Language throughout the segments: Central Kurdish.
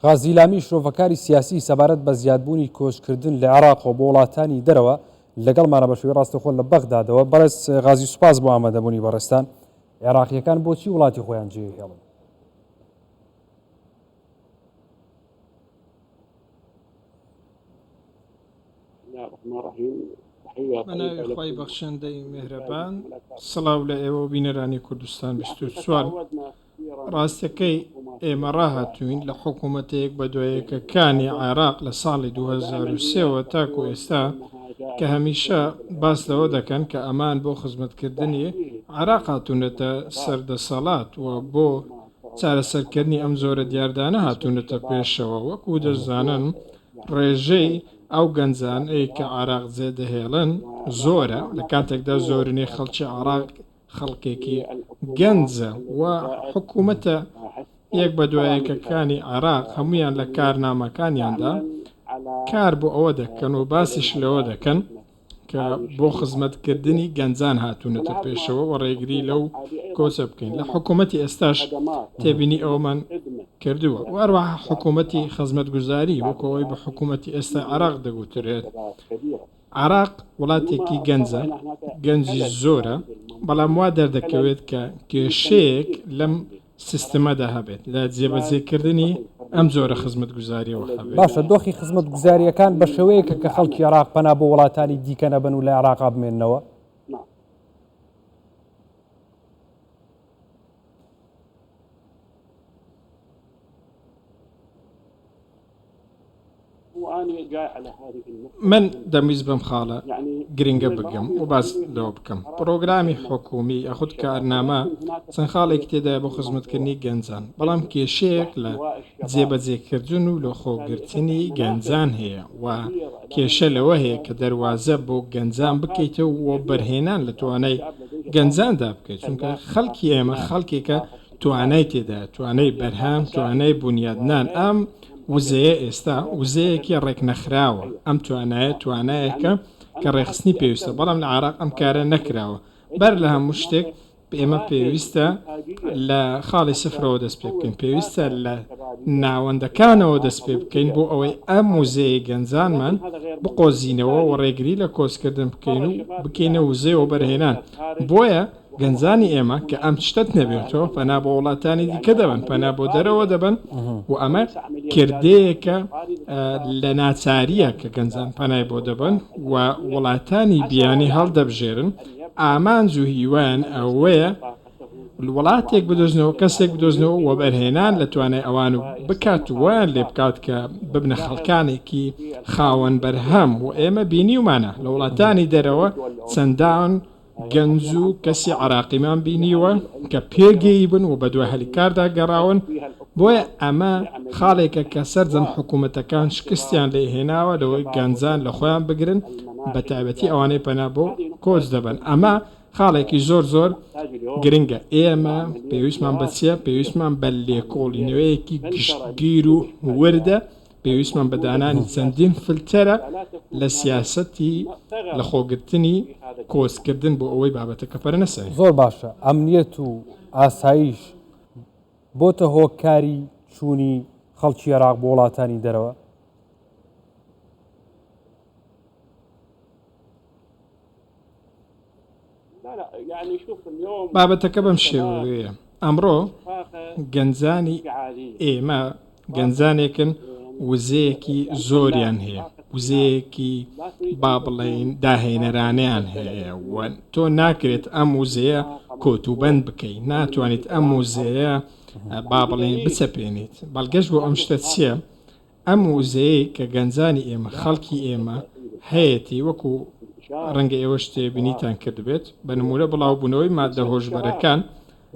غازی لامی شرۆڤەکاری سیاسی سەبارەت بە زیادبوونی کۆچکردن لە عێراقەوە بۆ وڵاتانی دەرەوە لەگەڵمانە بە شێوەی ڕاستەخۆ لە بەغدادەوە بەڕێز غازی سوپاس بۆ ئامادەبوونی بەڕێستان عێراقیەکان بۆچی وڵاتی خۆیان جێ هێڵن بەناوی خی بەخشندەی مهرەبان سڵاو لە ئێوە بینەرانی کوردستان 24 ڕاستەکەی ئێمە ڕاهاتووین لە حکوومەتە یەک بە دوای یەکەکانی عێراق لە ساڵی دوو هەزار و سێ وە تاکوو ئێستا کە هەمیشە باس لەوە دەکەن کە ئەمان بۆ خزمەتکردنی عێراق هاتوونەتە سەر دەسەڵات و بۆ چارەسەرکردنی ئەم جۆرە دیاردانە هاتوونەتە پێشەوە وەکوو دەشزانن ڕێژەی ئەو گەنجانەی کە عێراق جێدەهێڵن زۆرە لە کاتێکدا زۆرینەی خەڵکی عێراق خەڵکێکی گەنجە و حکوومەتە یەک بە دوایەکەکانی عێراق هەموویان لە کارنامەکانیاندا کار بۆ ئەوە دەکەن و باسیش لەوە دەکەن کە بۆ خزمەتکردنی گەنجان هاتوونەتە پێشەوە و ڕێگری لەو کۆچە بکەین لە حکوومەتی ئێستاش تێبینی ئەومان کردووە و هەروەها حکوومەتی خزمەتگوزاری وەکەوەی بە حکوومەتی ئێستا عێراق دەگوترێت عێراق وڵاتێکی گەنجە، گەنجی زۆرە، بەڵام وا دەردەکەوێت کە کێشەیەک لەم سیستمەدا هەبێت لە جێبەجێکردنی ئەم جۆرە خزمەتگوزارییەوە هەبێت. باشە دۆخی خزمەتگوزارییەکان بە شێوەیەکە کە خەڵکی عێراق پەنا بۆ وڵاتانی دیکە نەبەن و لە عێراقا بمێنەوە؟ من دەمویست بەم خاڵە گرنگە بگەم و باس لەوە بکەم پڕۆگرامی حکومی یاخود کارنامە چەند خاڵێکی تێدای بۆ خزمەتکردنی گەنجان بەڵام کێشەیەک لە جێبەجێکردن و لە خۆگرتنی گەنجان هەیە و کێشە لەوە هەیە کە دەواازە بۆ گەنجان بکەیتەوە و بەرهێنان لە توانای گەنجاندا بکەیت چونکە خەڵکی ئێمە خەڵکێکە توانای تێدا توانای بەرهەم توانای بونیادنان ئەم وزەیە ئێستا وزەیەکی ڕێکنەخراوە ئەم توانایە توانایەکە کە ڕێخستنی پێویستە بەڵام لە عراق ئەم کارە نەکراوە بەر لە هەموو شتێک ئێمە پێویستە لە خاڵی سفرەوە دەست پێ بکەین پێویستە لە ناوەندەکانەوە دەست پێ بکەین بۆ ئەوەی ئەم وزەیە گەنجانمان بقۆزینەوە و ڕێگری لە کۆچکردن بکەین و بکەینە وزەیەوە بەرهێنان بۆیە گەنجانی ئێمە کە ئەم شتەت نەبێتەوە پەنا بۆ وڵاتانی دیکە دەبەن پەنا بۆ دەرەوە دەبن و ئەمە کردەیەکە لە ناچاریە کە گەنجان پەنای بۆ دەبن و وڵاتانی بیانی هەڵدەبژێرن ئامانج و هیوان ئەوەیە وڵاتێک بدۆزنەوە کەسێک بدۆزنەوە و بەرهێنان لە توانای ئەوان و بکات ویان لێ بکات کە ببنە خەڵکانێکی خاوەن بەرهەم و ئێمە بینیومانە لە وڵاتانی دەرەوە چەندان گەنج و کەسی عراقیمان بینیوە کە پێگەیی بن و بەدوای هەلی کاردا گەڕاون، بۆیە ئەمە خاڵێکە کە سەرجەم حکومەتەکان شکستیان لێ هێناوە لەوەی گەنجان لە خۆیان بگرن بەتایبەتی ئەوانەی پەنا بۆ کۆچ دەبەن ئەمە خاڵێکی زۆر زۆر گرنگە ئێمە پێویستمان بە چیە پێویستمان بە لێکۆڵینەوەیەکی گشتگیر و وردە پێویستمان بە دانانی چەندین فلتەرە لە سیاسەتی لەخۆگرتنی کۆچکردن بۆ ئەوەی بابەتەکە پەرە نەسەنێت. زۆر باشە ئەمنیەت و ئاسایش بۆتە هۆکاری چوونی خەڵکی ئێراق بۆ وڵاتانی دەرەوە؟ بابەتەکە بەم شێوەیە ئەمڕۆ گەنجانی ئێمە گەنجانێکن وزەیەکی زۆریان هەیە وزەیەکی با بڵێین داهێنەرانیان هەیە تۆ ناکرێت ئەم وزەیە کۆتوبند بکەیت ناتوانیت ئەم وزەیە با بڵێن بچەپێنیت بەڵگەش بۆ ئەم شتە چییە؟ ئەم وزەیەی کە گەنجانی ئێمە، خەڵکی ئێمە هەیەتی، وەکو ڕەنگە ئێوەش تێبینیتان کردبێت، بە نموونە بڵاوبوونەوەی ماددە هۆشبەرەکان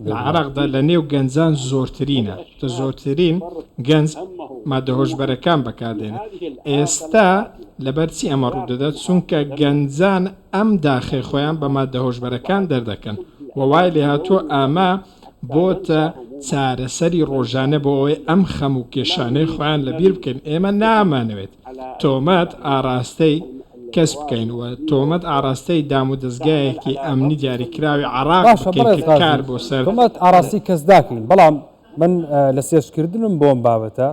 لە عێراقدا لە نێو گەنجان زۆرترینە، کە زۆرترین گەنج ماددە هۆشبەرەکان بەکاردێنێت. ئێستا لەبەر چی ئەمە ڕوودەدات؟ چونکە گەنجان ئەم داخەی خۆیان بە ماددە هۆشبەرەکان دەردەکەن و وای لێهاتووە ئەمە بۆتە چارەسەری ڕۆژانە بۆ ئەوەی ئەم خەم و کێشانەی خۆیان لەبیر بکەین ئێمە نامانەوێت تۆمەت ئاراستەی کەس بکەین و تۆمەت ئاراستەی دام و دەزگایەکی ئەمنی دیاریکراوی عێراق بکەین کە کار بۆ سەر تۆمەت ئاراستەی کەس داکەین بەڵام من لە سێرچکردنم بۆ ئەم بابەتە،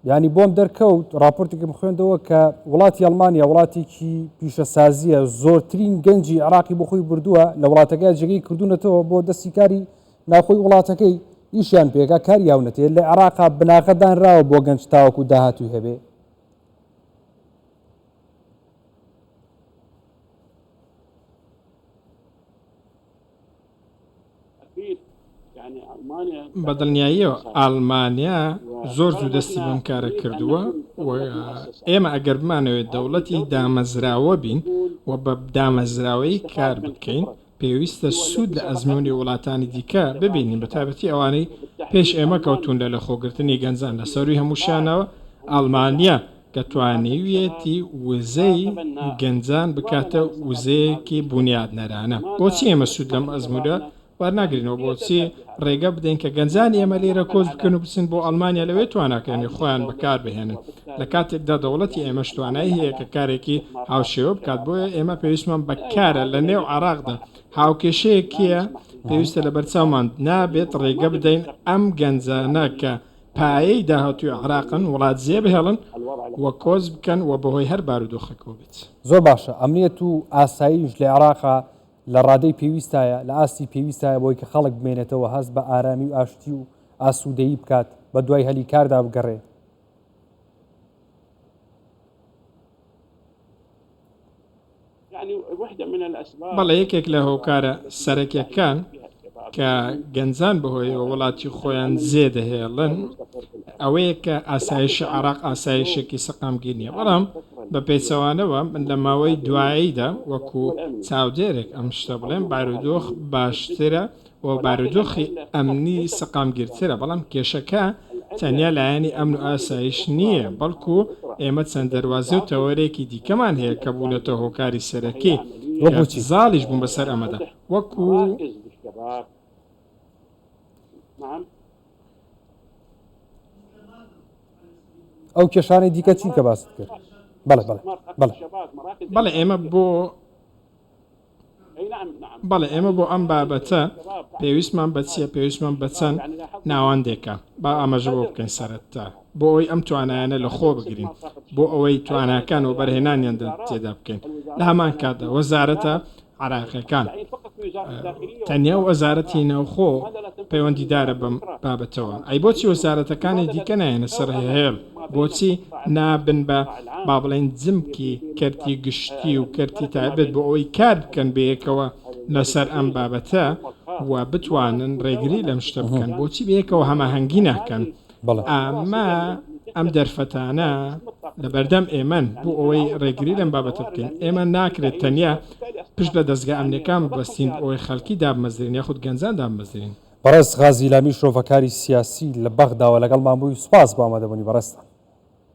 یانی بۆم دەرکەوت راپۆرتێکم خوێندەوە کە وڵاتی ئەلمانیا وڵاتێکی پیشەسازیە زۆرترین گەنجی عراقی بخۆی بردووە لە وڵاتەکە جێگەی کردوونەتەوە بۆ دەستی کاری ناخۆی وڵاتەکەی ئیشیان پێکا کار یاونەتێ لە عراقا بناغەدانراوە بۆ گەنج تاوەکو داهاتوی هەبێ بە دڵنیاییەوە ئاڵمانیا زۆر زوو دەستی بەم کارە کردووە و ئێمە ئەگەر بمانەوەێت دەوڵەتی دامەزراوە بین و بە دامەزراوەی کار بکەین پێویستە سوود لە ئەزمموی وڵاتانی دیکە ببینین بە تابەتی ئەوانەی پێش ئێمە کەوتوندا لە خۆگرتنی گەنجان لە سەروی هەمووشانەوە ئاڵمانیا کە توانیویەتی وزەی گەنجان بکاتە وزەیەکی بونیادنەرانە، بۆچی ئێمە سوود لەم ئەزموونە وەرناگرینەوە؟ بۆچی ڕێگە بدەین کە گەنجانی ئێمە لێرە کۆچ بکەن و بچن بۆ ئەڵمانیا لەوێ تواناکانی خۆیان بەکاربهێنن، لە کاتێکدا دەوڵەتی ئێمەش توانای هەیە کە کارێکی هاوشێوە بکات، بۆیە ئێمە پێویستمان بە کارە لە نێو عێراقدا هاوکێشەیەکیە پێویستە لەبەرچاومان نابێت ڕێگە بدەین ئەم گەنجانە کە. پایەی داهاتووی عێراقن، وڵات جێ بهێڵن و کۆچ بکەن و بەهۆی هەر بارودۆخێکەوە بێت. زۆر باشە، ئەمنیەت و ئاسایش لە عێراقا لە ڕادەی پێویستایە، لە ئاستی پێویستایە بۆی کە خەڵک بمێنێتەوە هەست بە ئارامی و ئاشتی و ئاسوودەیی بکات، بە دوای هەلی کاردا بگەڕێ. بەڵێ یەکێک لە هۆکارە سەرەکیەکان کە گەنجان بەهۆی وڵاتی خۆیان زێ دەهێڵن ئەوەیە کە ئاسایشی عراق ئاسایشێکی سەقامگیر نیە بەڵام بە پێچەوانەوە من لە ماوەی دواییدا وەکو چاودێرێک ئەم شتە بڵێم بارودۆخ باشترە و بارودۆخی ئەمنی سەقامگیرترە، بەڵام کێشەکە تەنیا لایەنی ئەمن و ئاسایش نییە، بەڵکو ئێمە چەند دەروازە و تەوەرێکی دیکەمان هەیە کە بوونەتە هۆکاری سەرەکی، کە زاڵیش بوون بەسەر ئەمەدا، وەکو. ئەو کێشانەی دیکە چین کە باست کرد؟ بەڵێ، بەڵێ. بەڵێ، ئێمە بۆ. بەڵێ ئێمە بۆ ئەم بابەتە پێویستمان بە چییە پێویستمان بە چەند ناوەندێکە با ئاماژە بۆ بکەین سەرەتا بۆ ئەوی ئەم توانایانە لە خۆ بگرین بۆ ئەوەی تواناکان و بەرهێنانیان تێدا بکەین لە هەمان کاتدا وەزارەتە عراقیەکان تەنیا و وەزارەتی ناوخۆ پەیوەندیدارە بەم بابەتەوە ئەی بۆچی وەزارەتەکانی دیکە نایەنە سەر هێڵ بۆچی نابن بە با بڵێین جمکی کەرتی گشتی و کەرتی تایبەت بۆ ئەوەی کار بکەن بەیەکەوە لەسەر ئەم بابەتە و بتوانن ڕێگری لەم شتە بکەن بۆچی بەیەکەوە هەماهەنگی ناکەن ئەمە ئەم دەرفەتانە لە بەردەم ئێمەن بۆ ئەوەی ڕێگری لەم بابەتە بکەین ئێمە ناکرێت تەنیا پشت بە دەستگا ئەمنەکان بەستین ئەوەی خەلکی دابمەزرێن یاخود گەنجان دابمەزرێن بەڕێز غازی لامی شرۆڤەکاری سیاسی لە بەغداوە لەگەڵمان بووی سوپاس بۆ ئامادەبوونی بەڕێزتان.